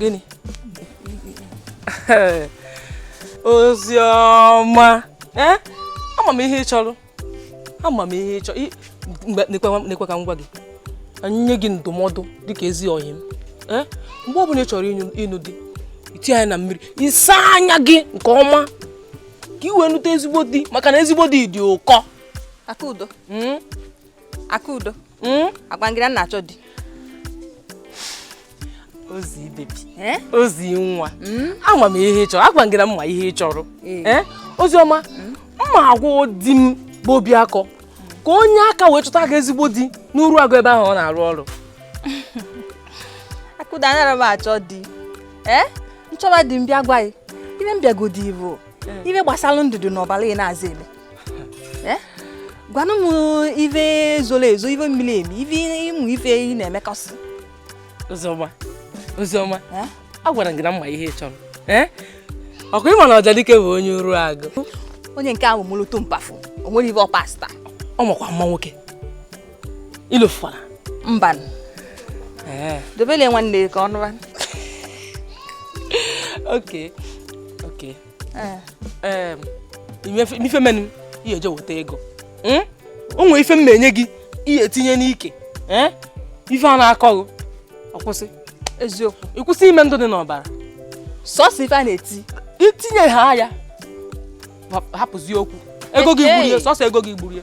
gịnị Oziọma eh? ama m ihe ị chọrọ ama m ihe ị chọrọ nekwa ka m gwa gị nye gị ndụmọdụ dịka ezi ọyị m eh? mgbe ọ bụla ị chọrọ ịnụ di i tinye anya na mmiri ị saa anya gị nke ọma ka i wee nụta ezigbo di maka na ezigbo di dị ụkọ Akudo. Hmm? Akudo. Hmm? agwa m gị na m na-achọ di Ozi baby eh? Ozi nwa hmm? ama m ihe ị chọrọ agwa m gị na m ma ihe ị chọrọ eh. Eh? Oziọma hmm? m ma-agwa di m bụ Obiakọ ka o nye aka wee chọta gị ezigbo di n'Uruagụ ebe ahụ ọ na-arụ ọrụ Akudo anara m achọ di ee m chọba di m bịa gwa gị ife m bịagodi bụ ife gbasara ndụ dị n'ọbara ị na-aza eme eh? gwanụ m ife zoro ezo ife miri emi ife ịmụ ife ị na-emekọsị Oziọma Oziọma eh? agwara m gị na m ma ihe ị chọrọ eh? ọ kwa ị ma na Ọjadike bụ onye Uruagụ onye nke ahụ mụrụ tumpafụ o nwere ife ọpasta ọ makwa mma nwoke ilofụkwara mba dobele nwanne ka ọ nụra okay okay ee ife menụ ihe eji weta ego hmm? o nwere ife m na-enye gị i ye-etinye n'ike eh? ife a na-akọ ọ kwụsị eziokwu ị kwụsị ime ndụ dị n'ọbara sọsọ ife a na-eti i tinye ha ya hapụzi okwu ego gị gburu ya sọsọ ego gị gburu ya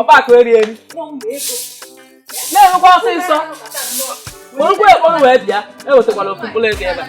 ọgbakọ eri eri na-enwekwa ọsịsọ kpọrọkwa ekpọrọ wee bịa ewetakwala ofu mkpụrụ ego ebe a